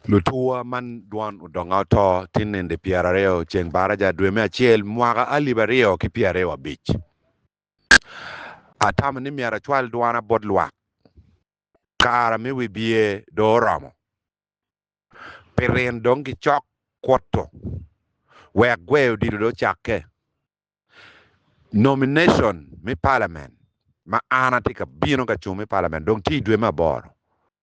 Lutuwa man dwan odonga oto tin nende pyera aryo ceng baraja dwe me acel mwaka alip aryo ki pyera aryo abic. Atamo ni myero acwal dwana bot lwak kara me wibye dong oromo. Pi rin dong ki cok kuto wek gweyo odilo dong ocakke. Nomination me palament ma an atye ka bino ka cung me palament dong tye idwe me aboro.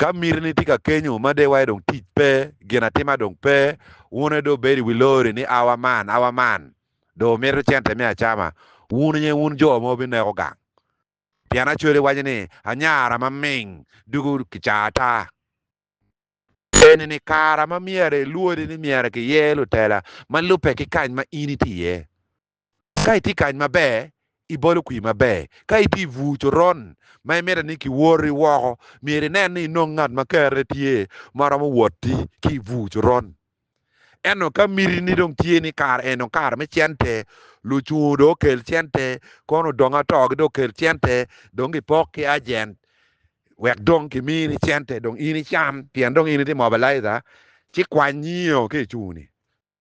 Ka mitini tye ka kenyo ma dewa aye dong tic pe, gin atima dong pe, wun aye dong wubedo i wi lori ni awa man, awa man, dong wumito cente me acama, wun aye wun jo ma wubineko gang. Pien Acwele waco ni, Anyara ma ming dugo kica ata. Eni-ni kara ma myero ilwodi ni myero kiyer lutela ma lubbe ki kany ma in itye iye. Ka itye kany maber, ibolo kwir maber. Ka itye i bur coron ma imito ni kiwori woko, myero inen ni inongo ngat ma kerre tye ma romo wotti ki i bur coron. Ento ka mitini dong tye ni kare eno kare me cente, lucungu dong okel cente, kono odong atogi dong okel cente, dong gipok ki ajent wek dong kimini cente dong in icam pien dong in itye mobilizer, ci kwany nyio ki i cungu ni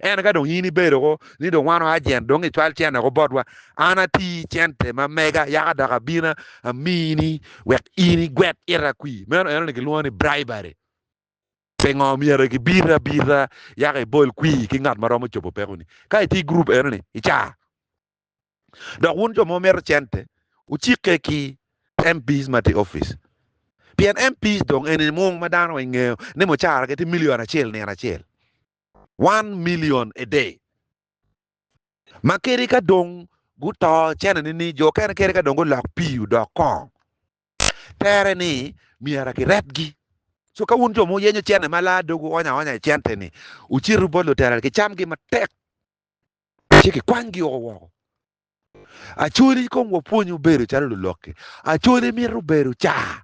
Ento ka dong in ibedo woko ni dong wan oajent, dong icwal cente woko botwa, an ati cente ma mega, yaka dok abina amini wek in igwet ita kwi. Meno enoni gilwongo ni bribery. Pingo myero gibiti abita yaka ibol kwi ki ngat ma romo cobo pekoni? Ka itye i gurup enoni, icar. Dok wun jo ma wumito cente, wucikke ki MPs ma tye i opic. Pien MPs dong eni mung ma dano weng ngeyo ni mucaragi tye milion acel nino acel. one million a day ma kadi ka dong guto cene nining jo okene kadi ka dong gulok pii odok kong tere ni myera ki retgi so ka wun jo ma wuyenyo cene ma laa dogu oonyo aonya i cente ni wucitu bot lutera ki camgi matek ci ki kwanygi oko woko actually kong wapwony bedo calo luloki actually mito bedo caa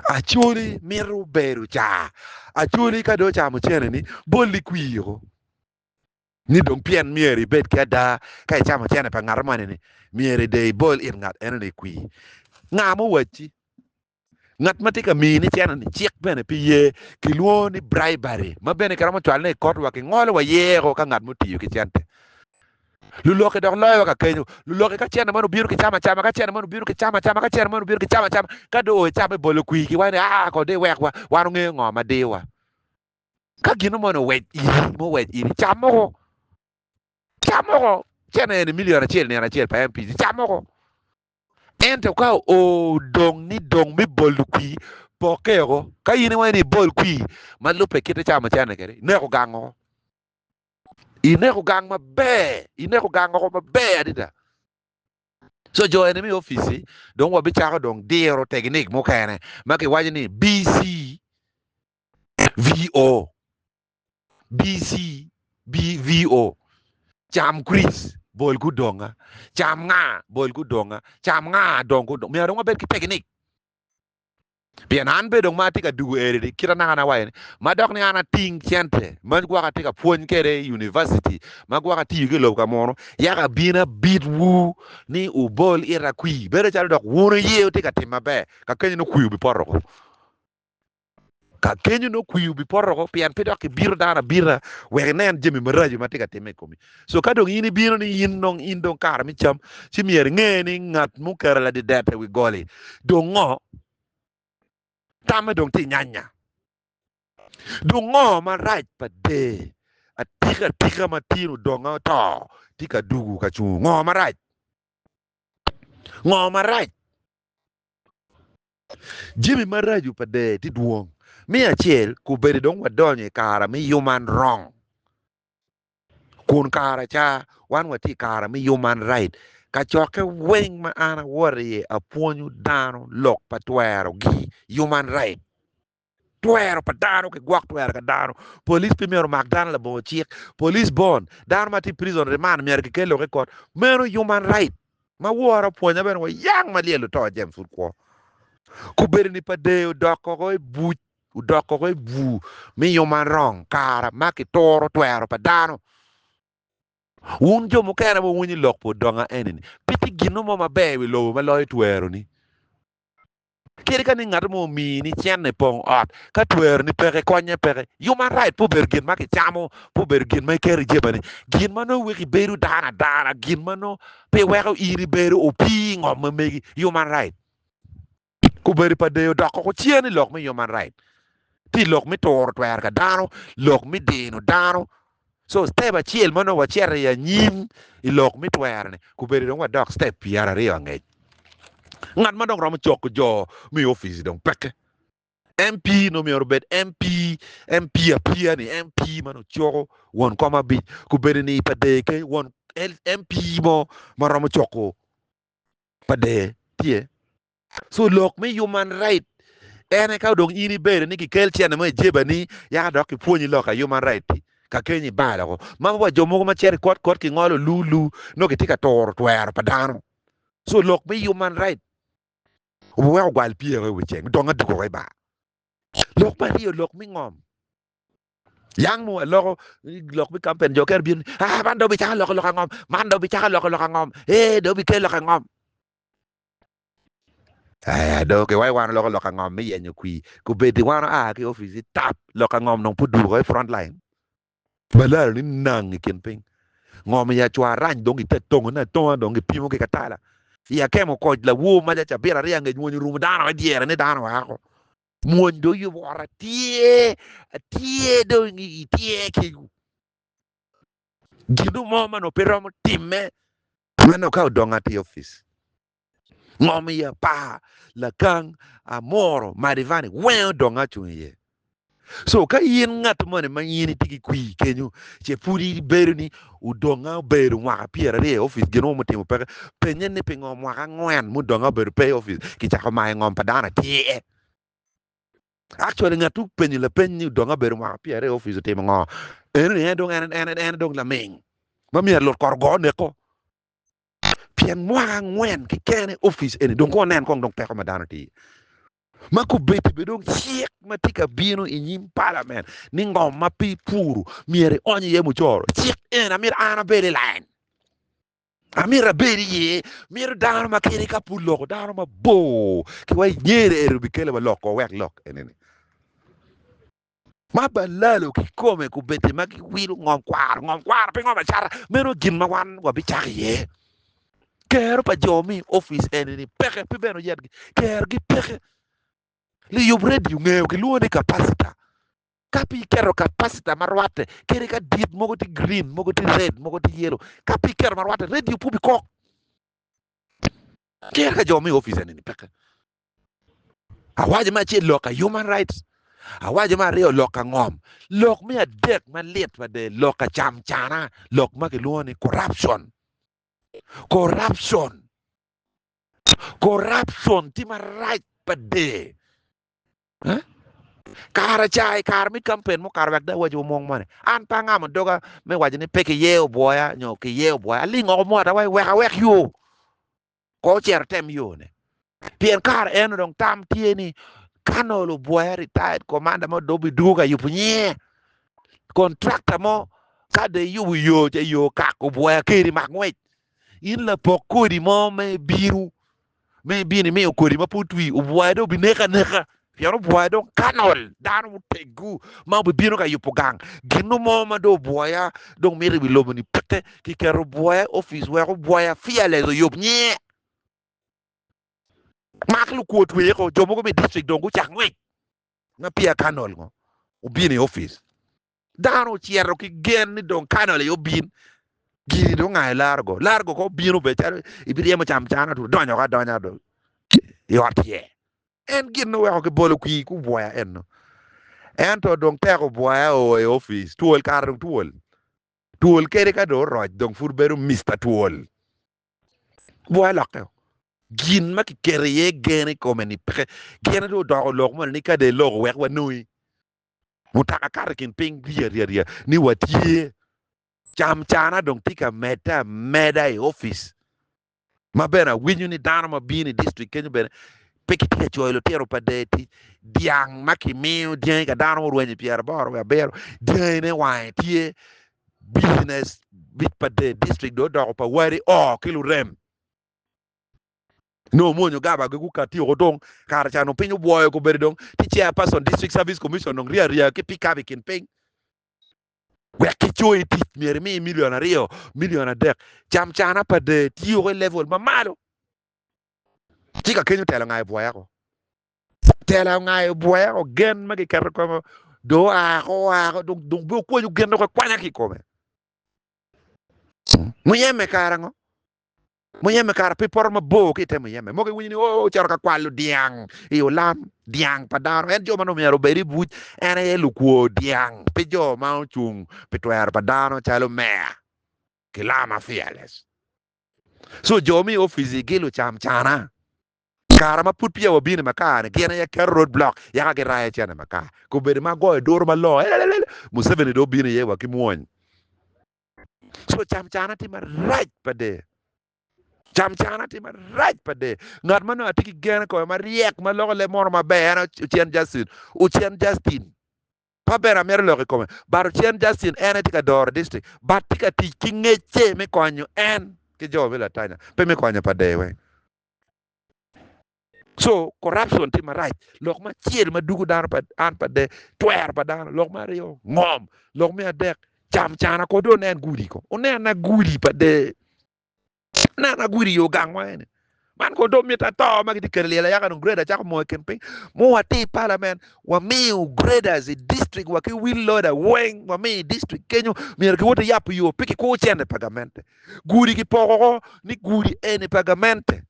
Acholi mito bedo car. Acholi ka dong ocamo cene-ni, bol i kwir woko ni dong pien myero ibed ki ada ka icamo cene pa ngat moni-ni, myero dong ibol it ngat eno-ni i kwir. Nga ma owacci? Ngat ma tye ka mini cene-ni cik bene pe ye. Kilwongo ni bribery, ma bene kiromo cwalone i kotwa, kingolo wa yeko ka ngat ma otiyo ki cente. Lulokke dok loyowa ka kenyo. Lulokke ka cene man obino ki cam acama, ka cene man obino ki cam acama, ka cene man obino ki cam acama. Ka dong oe camme bolo kwir ki wai ni, Aa kono dong iwekwa, wan ongeyo ngo ma diyowa. Ka gino moni owec iri, ma owec iri, cam moko. Cam moko. Cene eni milion acel nino acel pa MPC. Cam moko. Ento ka odong ni dong me bolo kwir, pokke oko. Ka in iwaco ni ibol kwir ma lubbe kite camo cene kede, neko gang oko. Ineko gang maber, ineko gang oko maber adada. So jo eni mi ofici dong wa bicako dong diro teginik mukene ma kiwaco ni BC VO. BC BVO. Cam Chris bol gudonga. Cam nga bol gudonga. Cam nga dong gudonga. Myero dong wabed ki teginik. Pien an bene dong ma atye ka dugo eri, kit anaka na waconi, ma dok ni an ating cente ma gwok atye ka pwony kwede i univaciti, ma gwok atiyo ki i lobo ka munu, yaka abino abitwu ni wubol ita kwir, bedo calo dok wun wuye wutye ka tim maber, kakanyoni kwir obipoto woko. Ka kenyo nongo kwiri obipoto woko pien pe dok ibito dano abita wek inen jami maraco ma tye ka timme i komi. So ka dong in ibino ni in dong in dong kare me cam, ci myero inge ni ngat muketo ladidete i wi goli dong ngo, tamme dong tye nyanya. Dong ngo marac pa der atika atika ma tin odonge oto tye ka dugu ka cungo? Ngo marac? Ngo marac? Jami maraco pa dee tye dwong. Me acel, kubeddi dong wadonyo i kare me Human Wrong, kun kara ca wan watye i kare me Human Right. Kacokke weng ma an awoto iye apwonyo dano lok pa twero gi Human Right. Twero pa dano ki gwok twere ka dano. Police pe myero omak dano labongo cik. Police bond dano ma tye i prison remand myero ki kel lok i kot. Meno human right. Ma wora opwonya bene wa yang ma lyel oto James pud kwo. Kubedo ni pa dee odok koko i buc, odok koko i bur me human wrong kara ma ki turo twero pa dano. Wun jo mukene ma wuwinyo lok pi odonga eni ni pe tye gin no mo maber i wi lobo ma loyo twero ni. Kadi ka ni ngat mo omii ni cene pong ot, ka twero ni peke konye peke. Human right pe obedo gin ma kicamo, pe obedo gin ma iketo ijebani. Gin ma nongo weko ibedo dano adana, gin ma nongo pe weko in ibedo opii ingom ma megi, human right. Kubedi pa deyo doko ko cer ni lok me human right ti lok me turo twer ka dano, lok me dino dano. So step acel ma nongo wacito i anyim i lok me twero-ni, kubedi dong wadok step pyera aryo angec. Ngat ma dong romo coko jo me i opic-ci dong peke. MP nongo myero obed MP, MP apiya-ni, MP ma nongo coko won kom abic, kubedi ni pa deye keny, won MP mo ma romo coko pa deye tye. so lok me human right ene ka dong in ibedo ni kikel cene mo ijebani yaka dok kipwonyi lok a human right ti ka keny ibal oko ma wa jo mogo ma ceri kot kot kingolo lu lu no gitye ka turo twero pa dano so lok me human right wek ogwal pye oko iwi ceng dong adugo oko ibar lok me aryo lok me ngom yang mo aloko lok me kampen jo kere bino ah man dong bicako loko lok angom man dong bicako loko lok angom ee dong bikel lok angom Aya dong ki wayo wano loko lok angom me yenyo kwi kubedi wano aa ki opici tap lok angom dong pud duko i front line balaro ni nang i kin piny ngom i acwa arany dong ite tongo ne atonga dong ki pimo ki katala i akemo koc lawor maja cabit aryo angec mwony orumo dano me dyere ni dano oa ko mwony dong yubo ot atye atye dong itye ki ginu mo mano pe romo time Meno ka odong ato i opic, ngo omiyo apar lakang amuro madivani weng odong acung iye? So ka in ngat moni ma in itye ki kwi kenyo ce pud ibedo ni odong a obedo mwaka pyeraryo i opic gin mo mutimo peke, penye ni pingo mwaka angwen mudong a obedo pe i opic kicako mayo ngom pa dano atir? Actually ngat tuk penyo lapeny ni odong abedo mwaka pyera i office otimo ngo? Eno ni en dong en en en dong laming ma myero lut kor ogo neko pien mwaka angwen keken i office eni dong kono nen kong dong peko ma dano tye ma kubedi be dong cik ma tye ka bino i nyim parliament ni ngom ma pi puru myero ionyo iye mucoro cik eni amyero an abed i line Amito abedo iye. Mito dano ma kene ka pud loko dano mabor ki wa inyere ero bikele wa loko wek lok enene. Ma balalo kikome kubedde ma giwilo ngom kwaro, ngom kwaro pe ngom acata, meno gin ma wan wabicako iye. Kero pa jo mi ofice enene peke, pe bene oyatgi, kerogi peke. Liyub redio ngeo kilwongo ni kapacita, Ka pe iketo kapacita ma rwatte kede ka dit mogo tye green, mogo tye red, mogo tye yellow, ka pe iketo ma rwatte, radio opup i kok. Ker ka jo me opice ni peke. Awaco me acel lok ka human rights, awaco me aryo lok ka ngom, lok me adek malit mada lok ka cam cana, lok ma kilwongo ni corruption. Corruption, corruption tye marac mada. Kara ca i kare me kampen mukato wek dong awac omong moni. An pe angamo doga me waco ni pe kiye obwoya nyo kiye obwoya. Aling oko mwata wa wek awek yo. Ko ocero tem yone. Pien kara eno dong tam tye ni Colonel obwoya retired commander mo dobi dugo ka yubo nyinge. Contractor mo ka de yubo yo ca yo kak obwoya keri mak ngwec. In lapok kodi mo me binu. Bino imiyo kodi ma pe otwi obwoye dong obineke aneka, pien obwoye dong kanol. Dano muteggu ma obibino ka yubo gang ginnu mo ma dong obwoya dong mito i wi lobo-ni pete. Kiketo obwoya i opic wek obwoya, fearless, oyub nyinge. Mak lukwo tweye ko. Jo mogo me dictrict dong gucako ngwec ma peya kanol ngo obino i opic. Dano ocito ki gen ni dong kanol aye obin, giri dong nga largo, largo ka obino be calo ibiryemo cam cana tu donyo ka donya do i ot ye. En gin oweko ki bolo kwir ku bwoya eno. Ento dong tek obwoya oo i office, twol kara dong twol. Twol kede ka dong oroc dong pud bedo Mister twol. Bwoya lokke o. Gin ma kiketo iye gen ikome ni peke, gin dong odoko lok moni ni ka dong iloko wek wanongi. mutoka kato i kin piny ryerye ni watye cam cana dong tye ka medde ameda i opic ma bene awinyo ni dano ma bino i district kenyo bene pe kitye ka coyo litino pa dee tic dyang ma kimiyo dyangi ka dano murwenyo pyeraboro wiye abiro dyangine wange tye business bit pa dee district dong odoko pa wadi oo ki lurem. Nongo muonyo gaba gi gu kati oko dong kare ca nongo piny obwoyo ko bedi dong ti chair person district service commission dong ria ria ki pick up i kin piny wek ki coyi tic myero imi million aryo million adek cam cana pa dee ti oko i level ma malo ci ka kenyo tela ongayo bwoya ko tela ongayo bwoya ko gen ma ki keto ko do oa ko oa ko dong dong be okwanyo gen dong akwanya ki kome muyeme kara ngo Muyeme kara pe poto mabor ki i te muyeme. Mogo iwinyo ni oo cito ka kwalo dyang i olam dyang pa dano. En jo ma dong myero obed i buc en aye lukwo dyang, pe jo ma ocung pi twero pa dano calo meya ki lama fearless. So jo me ofici gi lucam cana kara ma pud peya wabino i makar ni gin aye keto road block yaka girayo cen i makar. Kobedo ma goyo duru malongo elelelel Museveni dong obino iye wa ki mwony. Co cam cana tye marac pa de. Cam cana tye marac pa de. Ngat ma nongo atye ki gen i kome maryek ma loko leb mono maber en aye Ocen Justin. Ocen Justin. Pa bene amito lok i kome. But Ocen Justin en aye tye ka doro district. But tye ka tic ki ngecce me konyo en ki jo me Latanya. Pe me konyo pa de weng. Co corruption tye marac. Lok ma acel ma dugo dano pa an pa de twero pa dano. Lok ma aryo ngom. Lok me adek cam cana ko de onen gudi ko. Onen na gudi pa de. Onen na gudi yo gang wa eni. Man ko do mita to ma giti kelo lyel ayaka dong grader cako mo i kin piny. Mo wati i parliament wamiu graders i district wa ki wheel loader weng wami i district kenyo myero ki woti yapu yo pe ki kur cente pa gamente. Gudi ki poko ko ni gudi eni pa gamente.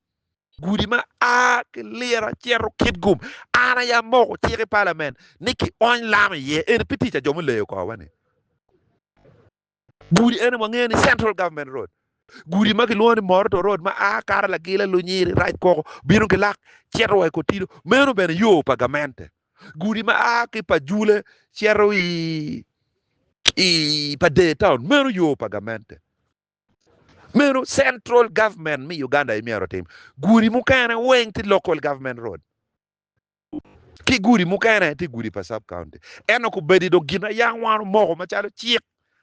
Gudi ma a ki Lira cito Kitgum, an aye amoko cik i palament ni kiony lam iye. Eni pe tic a jo me leyo kor-wa ni. Gudi eni wangeyo ni Central Government Road. Gudi ma kilwongo ni Moroto Road ma a kato Lagila, Lunyiri, Rajkoko, bino ki lak cito wa i Kotido, meno bene yo pa gamente. Gudi ma a ki pa Jule cito i pa Dee Town, meno yo pa gamente. Meno central government me Uganda aye myero otim. Gudi mukene weng tye local government road. Ki gudi mukene tye gudi pa sub county. Ento kubedi dong gin ayang wan omoko macalo cik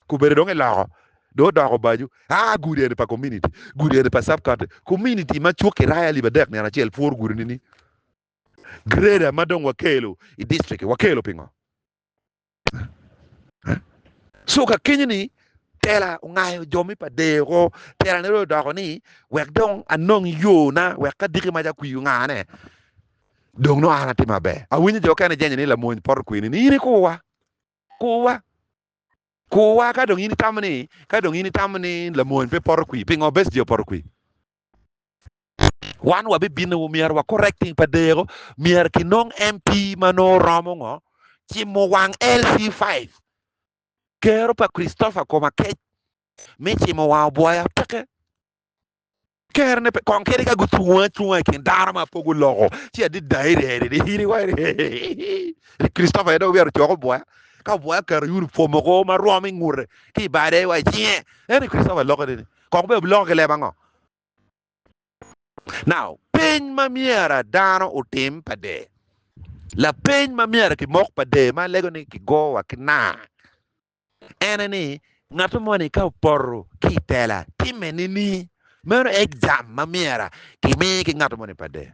kubedi dong iloko dong odoko bajo. Aa gudi eni pa community, gudi eni pa sub county. Community ma cuk ki raya libe adek nino acel pworo gudi ni ni. Grader ma dong wakelo i district wakelo pingo? So ka kenyo ni tela ongayo jo me pa dee oko, tela ne odoko ni wek dong anong yona wek ka diki maca kwi ongane dong no an atim maber. Awinyo jo kene jenyo ni lamony poto kwini ni in ikuwa, kuwa, kuwa ka dong in itamo ni ka dong in itamo ni lamony pe poto kwi, pingo Besigye opoto kwi? Wan wabibino wa myero wa correcting pa deko myero kinong MP ma nongo romo ngo cimo wang LC5 kero pa Christopher Komakec mi cimo wang obwoya peke kero ne pe kong keri ka gucungo acunga i kin dano ma po guloko ci adida Christopher ene obiro coko obwoya ka obwoya kero uniform oko ma rwom ingute ki bade wa icinge ene Christopher loko ni Kong obed biloko ki leb ango? Now, peny ma myera dano otim pa dee. Lapeny ma myera kimok pa dee ma lego ni kigo wa ki naa ene ni, Ngato moni ka opoto ki i tela timme ni ni? Meno aye jam ma myera kimi ki ngato moni pa dee.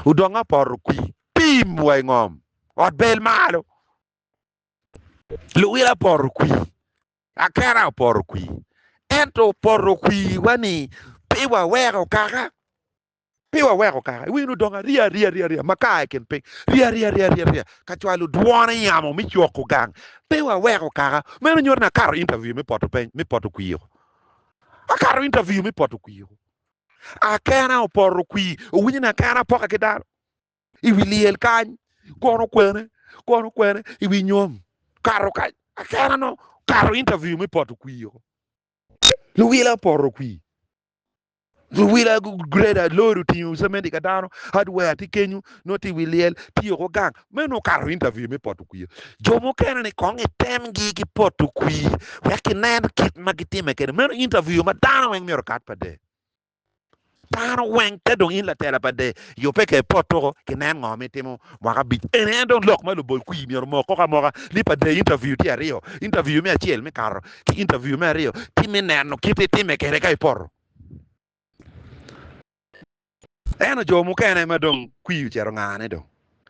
Odong ka opoto kwi, pim wa i ngom, ot bel malo. Luwil apoto kwi, Akera opoto kwir, ento opoto kwirwa ni pe waweko kaka, pe waweko kaka. Iwinyo ni odongo ariya ariya ariya ariya ma ka aa i kin piny, riya riya riya riya riya ka cwalo dwone i yamo me cwoko gang. Pe waweko kaka. Meno nyuto ni akato interview me poto peny, me poto kwir-ru. Akato interview me poto kwir-ru. Akena opoto kwir, owinyo ni akena pokke ki dano. i wi lyel kany kono kwene kono kwene i wi nyom kato kany akena no kato interview me poto kwii o luwila poto kwii luwila greda lori otingo cementi ka dano hardware ti kenyu no ti wi lyel ti oko gang me no kato interview me poto kwii jo mukene ni kong itemgi ki poto kwii wek inen kit ma gitime kede meno interview ma dano weng myero kat pade Dano weng ka dong in latela pa de yo pe ke pot tuko ki nen ngo mi timo mwaka abic en en dong lok ma lubol kwi myero mo koko amoka ni pa de interview tye aryo interview me acel me kato ki interview me aryo ti me neno kit itime kede ka ipoto eno jo mukene ma dong kwi ocero ngane dong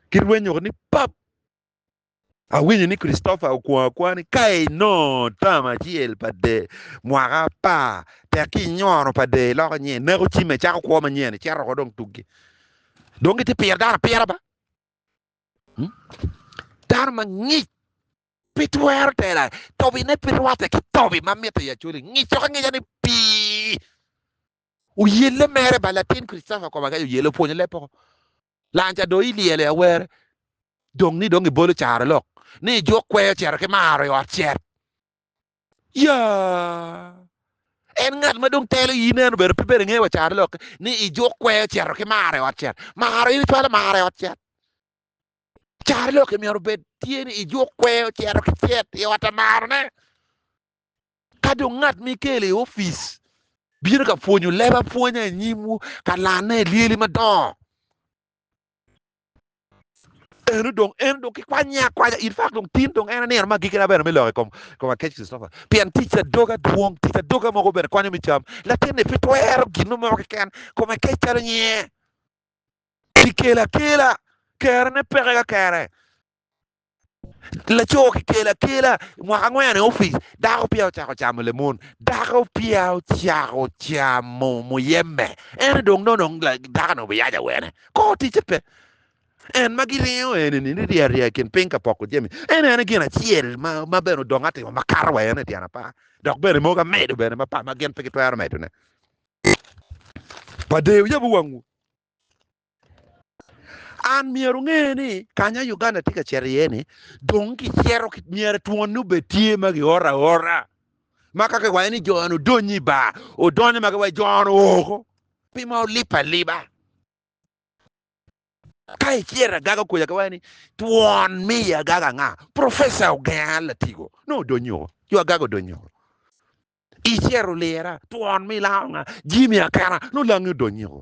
ki rwenyo ni pap Awinyo ni Christopher okwong akwonga ni ka inongo tam acel pa dee mwaka apar, tek ki inyono pa dee iloko nyen, ineko cimme, icako kwo manyen, icito oko dong tuggi. Dong gitye piro dano apira ba. Hmm? Dano mangic pe twero tela tobine pe rwatte ki tobi ma mitte i acoli ngic coko angica ni pii oyelle mere ba latin Christopher koma ka oyelle opwonyo leb poko Lanca do ilyelo i awer dong ni dong ibolo caro lok ni ijuk kweyo cito ki maro i ot cet. Yaa! En ngat ma dong telo iyi neno bedo pe bedo inge wa caro lok ni ijuk kweyo cito ki maro i ot cet. Maro in icwalo maro i ot cet. Caro lok imyero obed tye ni ijuk kweyo cito ki cet i ot amaro ne. Ka dong ngat ma ikelo i opic bino ka pwonyo leb apwonya i nyimwu ka lanne i lyeli madongo, eno dong, eno dong kikwanye akwanya in fak dong tin, dong en nino me agikina bene me lok i kom kom Akec Christopher, pien tic adoga dwong, tic adoga mogo bene konyo me cam. Latin-ni pe twero gin mo keken, kome kec calo nyinge. Kikelo akela, kerone peke ka kere. Laco kikelo akela i mwaka angwen i opic, dako peya ocako camo lemon. Dako peya ocako camo muyeme. Ene dong nono dako-ni obiyaca wene. Kor ticce pe. En ma giringo eni-ni ni rye aryeya i kin piny ka poko jami. En en aye gin acel ma bene odong atima ma kato wa en i tyen apar. Dok bene mogo amedo bene ma pa ma gin pe gitwero medone. Padeyo yabu wangwu. An myero onge ni kanya Uganda tye ka cito iye ni dong gicito myero twon ni obed tye ma gioro aora ma ka kiwayo ni joni odonyo i bar odonyo ma giwayo joni oko pi ma olip aliba ka icito agaga okuja kiwayo ni twon miyo agaga nga profesa ogenga latigo ne odonyo oko yo agaga odonyo oko icero lira twon mi lango nga jimi akena no langi odonyo oko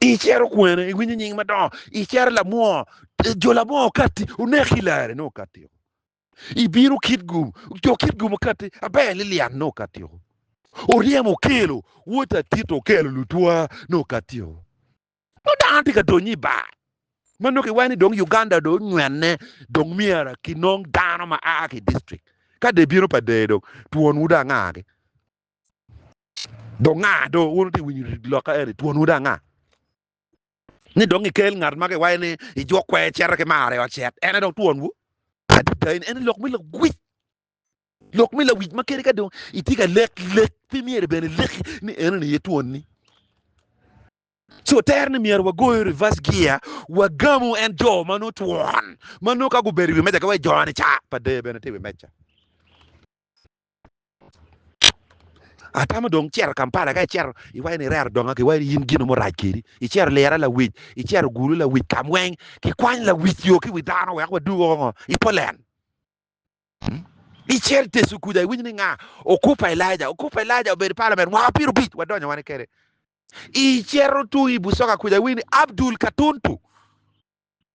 icero kwene iwinyo nying madongo icero lamwoo jo lamwoo kati oneki lare no kati ibino kit gum jo kit gum kati aber lilian no kati oryemo okelo wota tit okelo lutwa no kati no dano tye ka donyo i bar ma nongo kiwayo ni dong Uganda dong onywene dong myero kinong dano ma a ki district ka dong ebino pa deye dong twonwu dong angagi Dong nga do wun wutye ka winyo rit lokka eni? Twonwu dong nga? Ni dong ikel ngat ma giwaco ni i jok kwer cito ki marre ocit, en aye dong twonwu? Adada eni, en aye lok me lawic, lok me lawic ma kadi ka dong itye ka lek lek pe myero bene ileki ni enoni aye twonni. Co tere ni myero wagoyo reverse gear, wagamu en jo ma nongo twon, ma nongo ka gubedo i wi meja ki wa i joni ca, pa dee bene tye i wi meja. Atamo dong cito Kampala ka icito iwaco ni irero donga ki wai in gino murac kedi icito lira lawic icito gulu lawic kam weng kikwany lawic yo ki wi dano wek wadug woko ngo i polen icel tecu kuca iwinyo ni nga okupa Elaija okupa Elaija obedo i palament mwaka pyerabic wadonyo wani kede icito tung i busoga kuca iwinyo ni Abdul Katuntu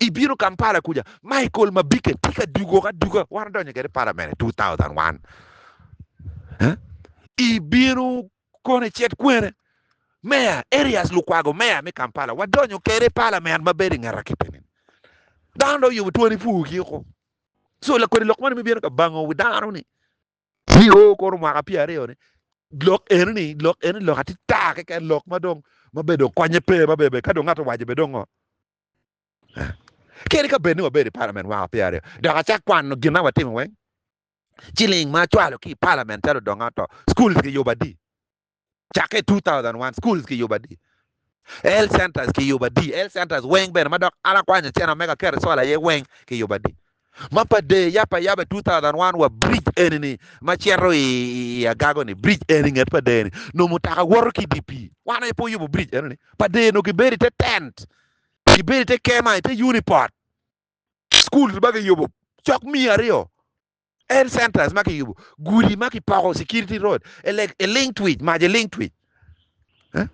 I bino Kampala kuca, Michael Mabike tye ka dugo aduga wan odonyo kede palament 2001. I bino kono i cet kwene, Meya Erias Lukwago, Meya me Kampala, wadonyo kede palament ma bedo i nget akipe ni. Dano dong oyubo twoni pur ki oko. So lakodi lok moni me bino ka bango wi dano ni. Ci o kono mwaka pye aryo ni lok eni ni lok eni lok ati ta keken lok ma dong ma bene dong konye pe ma bebe ka dong ngato owaco bene dong ngo kadi ka bed ni wabedo i palament mwaka pye aryo dok acak kwano gin ma watimo weng ciling ma acwalo ki i palament calo odongo to schools ki yubo adi cakke 2001 schools kiyubo adi, health centers kiyubo adi, health centers weng bene ma dok an akwanyo cene me ka keto solar iye weng kiyubo adi. Ma pa dee yap ayaba 2001 wa bridge eni ni ma cito i i agago ni bridge eni nget pa dee ni nongo mutoka woto ki idye pii wan aye pe oyubo bridge eno ni pa dee nongo kibedo ite tent kibedo ite kema ite uniport schools ma kiyubo cok miya aryo Health centers ma kiyubo, gudi ma kipoko, security road, elek eling twic, mac eling twic. Eh?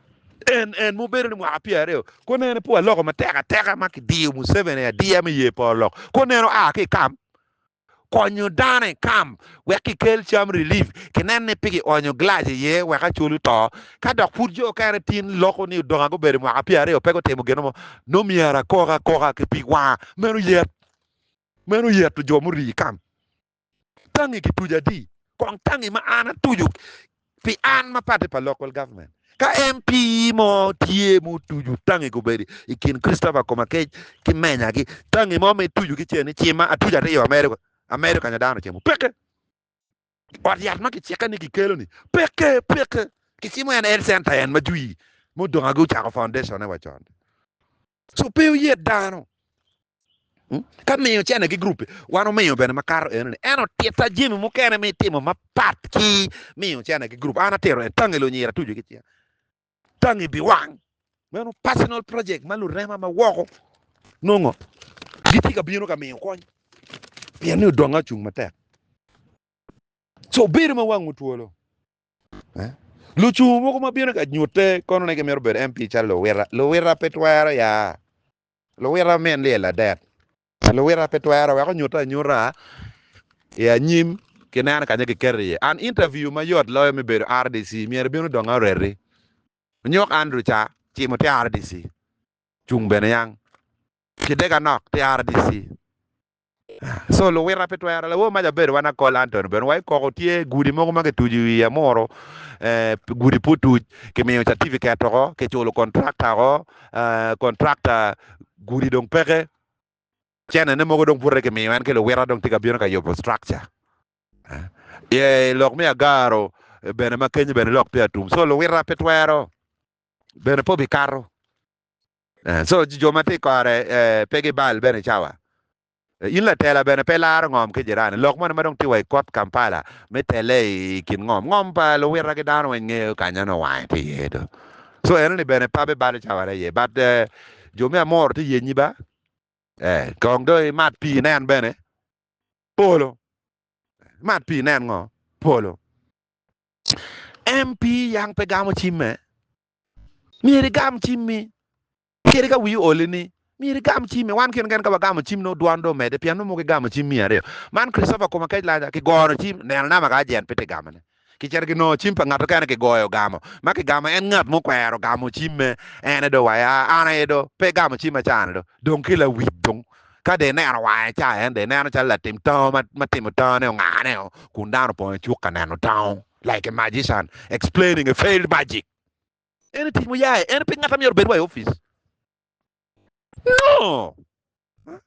En en mubedo ni mwaka pyera aryo, ko nene pu aloko matek ateka ma kidiyo Museveni adiya me ye poro lok. Ko neno a ki kam konyo dano i kam wek kikel cam relief, kinen ni pe kionyo glass iye wek acol oto, ka dok pud jo okene tin loko ni odonga gubedo mwaka pyera aryo pe gutimo gino mo, no myero akok akoka ki pig wanga meno yet. Meno oyeto jo murii i kam tangi kituco adi? Kong tangi ma an atuco pi an ma party pa local government. Ka MP mo tye ma otuco tangi kobedo i kin Christopher Komakec ki Menya gi tangi mo ma ituco ki ce ni cima atuco aryo America America nyo dano cimo peke. Ot yat ma kicikke ni kikelo-ni peke, peke. Kicimo en Health Center en ma jwi mudongagi ocako foundation-ne wa con. So pe oyet dano ka miyo cene ki group-pe. Wan omiyo bene makato enoni. En otitta jemi mukene me timo mapat ki miyo cene ki group. An atito en, tange lunyira tucu ki cinga. tangi biwang. Meno personal project ma lurema ma woko nongo gitye ka bino ka miyo kony pien ni odongo acung matek. Co bedo ma wang otwolo. Eh? Lucung mogo ma bino ka nyute kono ne gimito bedo MP calo luwita. Luwita pe twero ya. Luwita men lyel adet. Luwita pe twero wek onyute anyuta i anyim ki neno kanya kiketo iye an. Interview ma yot loyo me bedo rdc myero bino dong areti onyok Andrew ca cimo te rdc cung bene yang ki dega nok te rdc so luwita pe twero lawo maja bedo wana kol Antony bene wa ikoko tye gudi mogo ma kitujo i wiye muro gudi pu tuj kimiyo certificate oko kiculo contractor oko contractor gudi dong peke. Cene ne mogo dong pud reki miyo en ki luwita dong tye ka bino ka yubo structure. Ye lok me agaro bene ma kenyo bene lok tye atum so luwita pe twero bene pe obi kato. So jo ma tye i kore pe gi bal bene cawa. In latela bene pe ilaro ngom ki jirani. Lok moni ma dong tye wa i kot Kampala me tele i kin ngom. Ngom pa luwita ki dano weng ngeyo kanya nongo wange tye iye do. So eno ni bene pa bebalo cawa aye but Jo me Amor tye yenyi ba? Ee. Kong dong imat pii inen bene. Polo. Imat pii inen ngo? Polo. MP Yang pe gamo cimme? Myero igam cimmi. Kadi ka wii oli ni, myero igam cimmi. Wan kene kene ka wagamo cim nongo dwan dong omedde pien nongo mogo igamo cim miya aryo. Man Christopher Komakech Laja, kigoro cim, neno nama ka ajent pe tye gamone. Kicito kinongo cim pa ngat okene kigoyo gamo ma kigamo en ngat mukwero gamo cimme ene do wa ya an aye do pe gamo cim acane do dong ki lawic dong ka do ineno wange ca en do ineno calo latim tango ma timo tango ne ongane o kun dano opong i cuk ka neno tango like a magician explaining a failed magic. Ene tic muyaye ene pe ngat amyero obed wa i office. Nongo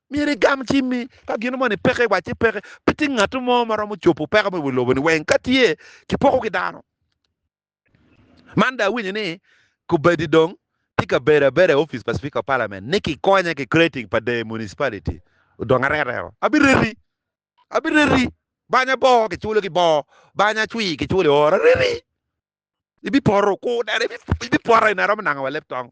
myero igam cimmi ka gin moni peke iwac ci peke. Pe tye ngat mo ma romo cobo peko me wi lobo-ni weng. Ka tye, kipoko ki dano. Man dong awinyo ni kubedi dong tye ka bedo abeda i opic pa Speaker of Parliament ni kikonya ki creating pa Deyo Municipality odong arekeo. Abireti, abireti, banya boo kiculo ki boo, banya cwii kiculo i oro. Areti, ibipoto, kur dero, ibipoto gin aromo nango wa leb tong.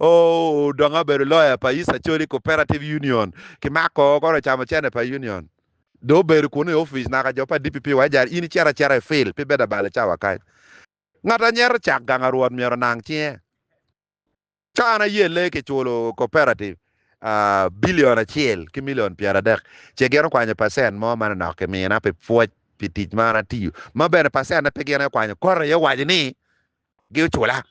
Odong abedo loya pa East Acholi Cooperative Union. Kimako kore ocamo cene pa Union. Dong obedo kunu i ofice naka jo pa DPP wa ijara in icito acita i field pe ibedo abale cawa kany. Ngat a nyeto cak gang a rwot myero onang cinge. Ka an ayelle kiculo cooperative billion acel ki million pyeradek ce gin okwanyo percent mo manonok kimina pi pwoc pi tic ma an atiyo ma bene percent ne pe gin aye okwanyo kore aye owaco ni gi ocula.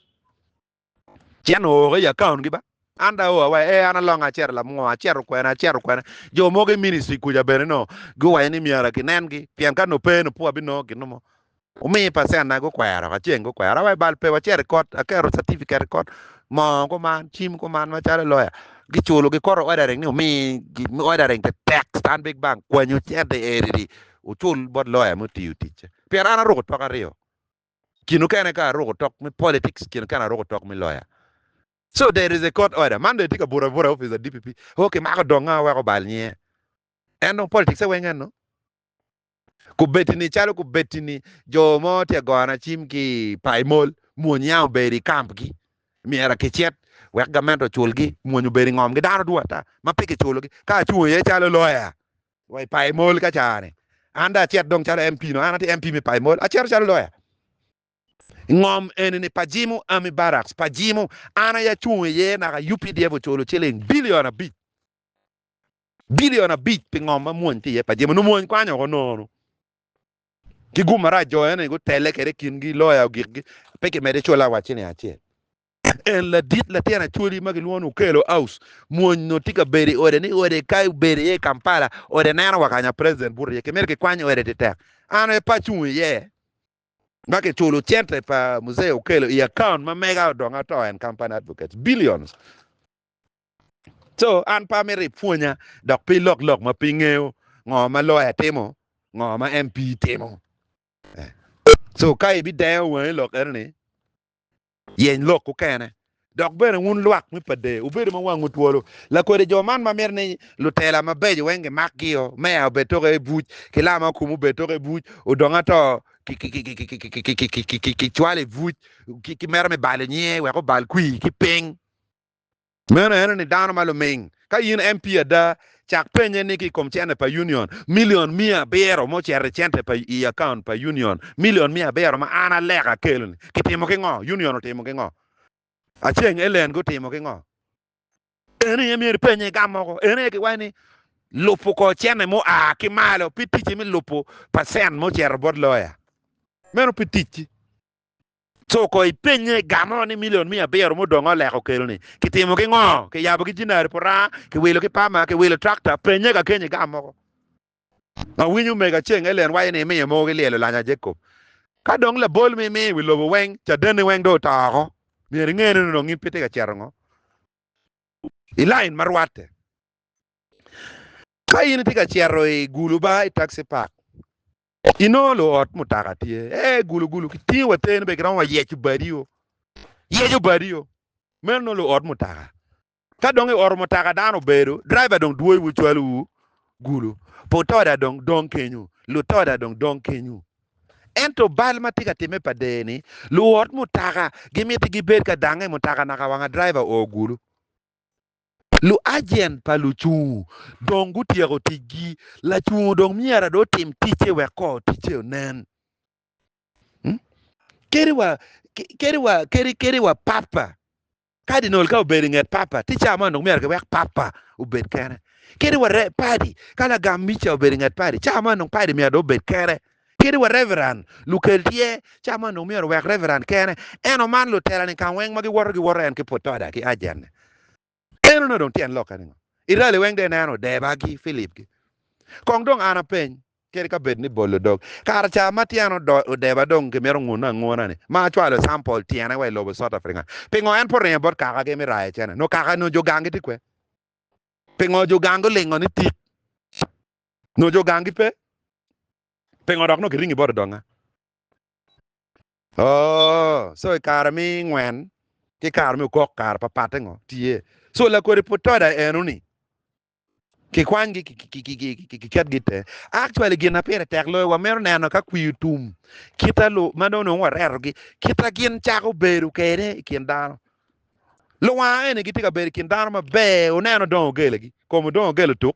Cen ooko i account gi ba. An da oa wa ee an alonga aceto lamungo aceto kwene aceto kwene jo mogo i ministry kuca bene noo guwaco ni myero ki nen gi pien ka noo pee noo pud abi nongo ginu mo omi percent na gukwero ka ceng gukwero awaco bal pe waceto i kot aketo certificate i kot moo kuman cim kuman macalo lawyer giculo gikoto ordering ni omi gi ordering te tek stanbic bank kwanyo cente eri ri ocul bot lawyer muti oticce pien an aruko twak aryo Kin okene ka aruko tok me politics kin okene aruko tok me lawyer. So there is a court order. Man dong etye ka buto abuta i office pa DPP. Oh kimako donga wek obal nyinge. En dong politics e weng eno. Kubetini calo kubetini jo mo tye ka goyo na cim ki i Paimol, mwony ya obedo i camp gi. Myero kicit wek gament ocul gi. Mwony obedo i ngom gi. Dano dwong ata ma pe kiculo gi. Ka acung iye calo lawyer Wa i payo mol ka caa-ni. An dong acit dong calo MP nongo an atye MP me payo mol. Acito calo loya i ngom eni-ni pa Jimu Army Barracks pa Jimu. An aye acung iye naka updf oculo ciling bilion abic bilion abic pi ngom ma mwony tye iye pa Jimu. Nongo mwony kwanya woko nono ki gum marac jo eni gutelle kwede i kingi, loya ogikgi. Pe kimedde cula wa ciling acel. En ladit latin Acholi ma kilwongo ni Okello Aus mwony nongo tye ka bedo i ode ni ode ka obedo iye i Kampala ode neno wa kanya president buto iye kimito kikwany ode ti tek an aye pe acung iye ma kiculo cente pa Mzee Okello i account ma mega odong ato en company advocates billions so an pe amito ipwonya dok pe ilok lok ma pe ingeyo ngo ma lawyer timo ngo ma MP timo so ka ibidengo wangi lok enoni Yeny lok mukene. Dok bene wun lwak me pade, wubedo ma wangwu twolo. Lakodi jo man ma mito ni lutela mabeco weng gimakgio, meya obed toke i buc, ki lama okumu obed toke i buc, odong ato kicwalo i buc, ki mito me balo nyinge wek obal kwir ki piny. Meno en ni dano ma luming. Ka in MP ada, cak penye ni ki i kom cente pa Union milion miya abiro ma ocito i cente pa i account pa Union milion miya abiro ma an aleka akelo ni kitimo ki ngo? Union otimo ki ngo? Aceng Ellen gutimo ki ngo? En aye myero ipenye gam mogo. En aye giwaco ni lupu ko cente mu a ki malo pi ticci mi lupu percent mu cito bot lawyer. Meno pi ticci. Co ko ipenye, Gamo ni milion miya abiro mudong oleko okeloni, kitimo ki ngo? Kiyabo ki jinari puranga, kiwilo ki pama, kiwilo trakta? Penye ka keny igam mogo. Awinyo omega Ceng Ellen waco ni imiyo mogo ki lyelo lanya Jacob. Ka dong labol ma imiyo i wi lobo weng, cadenni weng dong oto oko. Myero inge ni onongo in pe itye ka cito ngo i lain ma rwatte. Ka in itye ka cito i guluba, i taxi park, Inongo luot mutaka tye ee gulugulu kitingo wa teni be giromo wayeco badio yeco badio meno nongo luot mutaka ka dong ioto mutaka dano obedo driver dong dwoyowu cwalowu gulu putoda dong dong kenyu lutoda dong dong kenyu ento bal ma tye ka timme pa der ni luot mutaka gimiti gibed ka dange mutaka naka wanga driver oo gulu Luajent pa lucungu dong gutyeko ticgi, lacungu dong myero dong otim ticce wek kor ticce onen. Kadi wa, kadi wa, kadi, kadi wa papa, kadinol ka obedo inget papa, ticca man dong myero kiwek papa obed kene. Kadi wa re, padi, ka lagam mica obedo inget padi, ca man dong padi myero dong obed kene. Kadi wa reveran lukel tye, cawa man dong myero owek reveran kene en oman lutela-ni ka weng ma giwoto giwoto en ki putoda ki ajenne. En onongo dong tyen lokke ningo? Irali weng dong ineno deba gi Philip gi. Kong dong an apeny, kadi ka bed ni bolo dog, kara ca ma tyen odeba dong kimito ngune anguna ni ma acwalo sample tyene wa i lobo South African, pingo en pe oringo bot kaka gi me rayo cene? Nongo kaka nongo jo gang gi tye kwe? Pingo jo gang gulingo ni tit? Nyo jo gangi pe, pingo dok nongo kiringi bot odonga? Oh, so i kare mi ngwen ki kare mi okok kare pa patte ngo tye? So lakodi putoda eno ni kikwany gi ki ket gi te. Actually gin na pire tek loyo wa mito neno ka kwi otum kita lu ma dong nongo wareto gi kita gin cako bedo kede i kin dano. Luwanga eni gitye ka bedo i kin dano maber, oneno dong ogele gi, komo dong ogele tuk.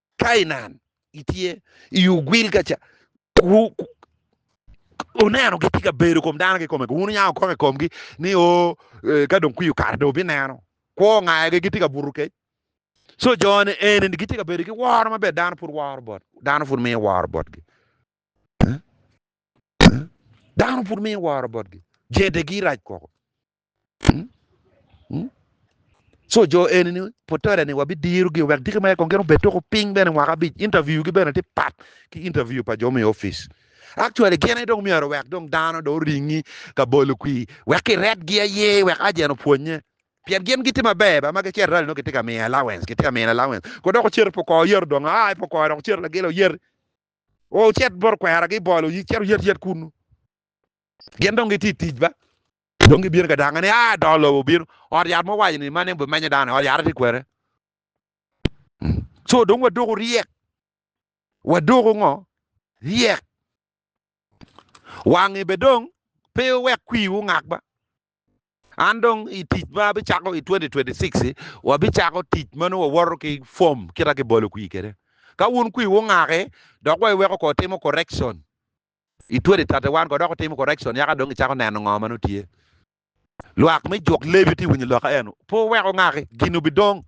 Kainan itye i ogwil ka ca oneno gitye ka bedo kom dano kikome wun inya okoko i komgi ni o oh, eh, ka dong kwiyo kare dong bineno kwo ngayogi gitye ka buto kec so jone eni gitye ka bedo ki woro maber dano pud woro bot dano pud miyo woro botgi eh? eh? dano pud miyo woro botgi jedegi rac koko Co jo eni ni putore ni wabidiro gi wek diki mere kong gin obed toko ping bene mwaka abic interview gi bene ti pat ki interview pa jo me office actually gin aye dong myero wek dong dano dong oringi ka bolo kwi wek ki red gi aye wek agent opwonye pien gin giti maber ba ma ki cito rali nongo kiti ka miyo allowance kiti ka miyo allowance ko dok ocito pu kor oyero dong aa pu kor dok ocito lagila oyer ocit bot kwera gi bolo cit oyet yet kunu gin dong giti tic ba Dong gibino ka dangnga ni, Aa, do lobo obino. Ot yat mo owaco ni, Man en bimenyo dano, ot yat aye tye kwede. Co dong wadoko ryek. Wadoko ngo? Ryek. Wangi be dong pe wek kwiwu ongak ba. An dong i tic ma abicako i 2026-ci, wabicako tic ma nongo wawoto ki form kita kibolo kwi kede. Ka wun kwiwu ongaki, dok wa iweko ko itimo correction. I twere tate wan ko dok watimo correction yaka dong kicako neno ngo ma nongo tye. Lwak me juk Levi tye winyo lok ka eno, pe wuwek ongaki, gin obidong.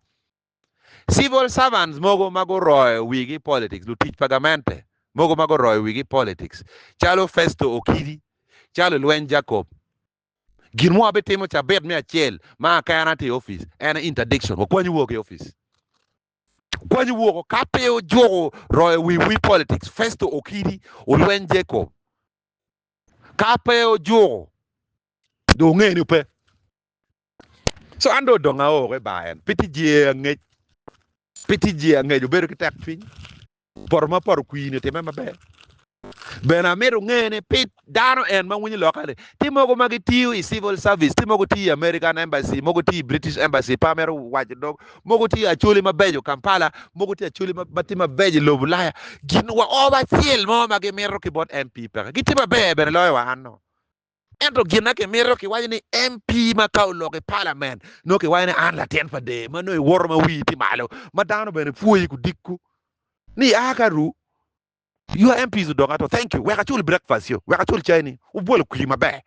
Civil servants mogo ma guroyo wigi i politics, lutic pa gamente mogo ma guroyo wigi i politics, calo Festo Okidi, calo Ilweny Jacob. Gin mo abitimo cabit me acel ma akena atye i office, en aye interdiction, wakwanyi woko ki i office. Kwanyo woko ka pe ojuko royo wi wi politics Festo Okidi olweny Jacob ka pe ojuko do nge ni ope so an do odonga oo ki bar en pe ti jee angec pe ti jee angec obedo ki tek cwiny. Poto ma poto kwini otime maber. Bene amito nge ni pit dano en ma winyo loka ni ti mogo ma gitiyo i civil service, ti mogo tiyo i American Embassy, mogo tiyo i British Embassy, pe amito waco dog, mogo tiyo acoli mabeco Kampala, mogo tiyo acoli ma ti mabeco i lobo Ulaya. Gin wa oba acel mo ma gimito ki bot MP peke. Gitye maber bene loyo wa anno. Ento gin ma kimito kiwaco ni MP ma ka oloko i palament nongo kiwaco ni an latin pa dee ma nongo iwoto ma wii tye malo ma dano bene pwoyi ku dikku ni a ka ru your MPs odong ato thank you wek acul breakfast yo wek acul cai ni obwolo kwiri maber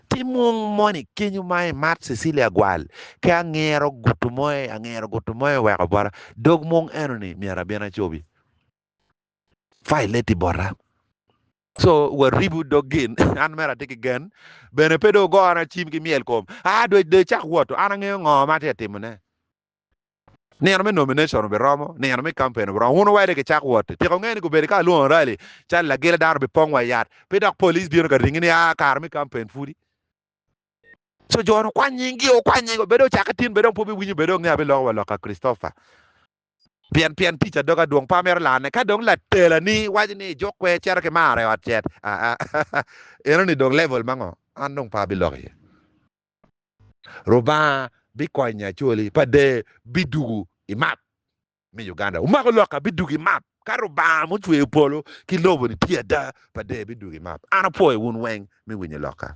ti mung moni kenyo ma imat Cecilia Gwal ki angero gutu moe angero gutu moe weko bota dog mung eno ni myero abin acobi violate bota so waribu dog gin an mere atye ki gen bene pe dong ogona cim ki myel kom a dwe dong icak woto an angeyo ngo ma atye ka timone nino me nomination obiromo nino me campaign obiromo wun wede gicak woto tika wungeyo ni gubedo ka lwongo rally calo lagila dano obipong wa yat pe dok police bino ka ringi ni a kare me campaign pudi so jo ni okwany nying gi okwany nying wa bed dong ocake tin bed dong pe wubi winyo bed dong nge abiloko wa loka Christopher Pien, pien tic adog adwong pa mero lane. Ka dong latelani waco ni juk kwer cito ki maro i ot cet, aa, enoni dong level ma ngo? An dong pe abiloko iye. Rubanga bikonyi Acholi pa dee bidugu i map me Uganda. Wumako lok abidugu i map. Ka Rubanga ma ocweyo polo ki lobo ni tye ada, pa dee bidugu i map. An apwoyo wun weng me winyo lokka.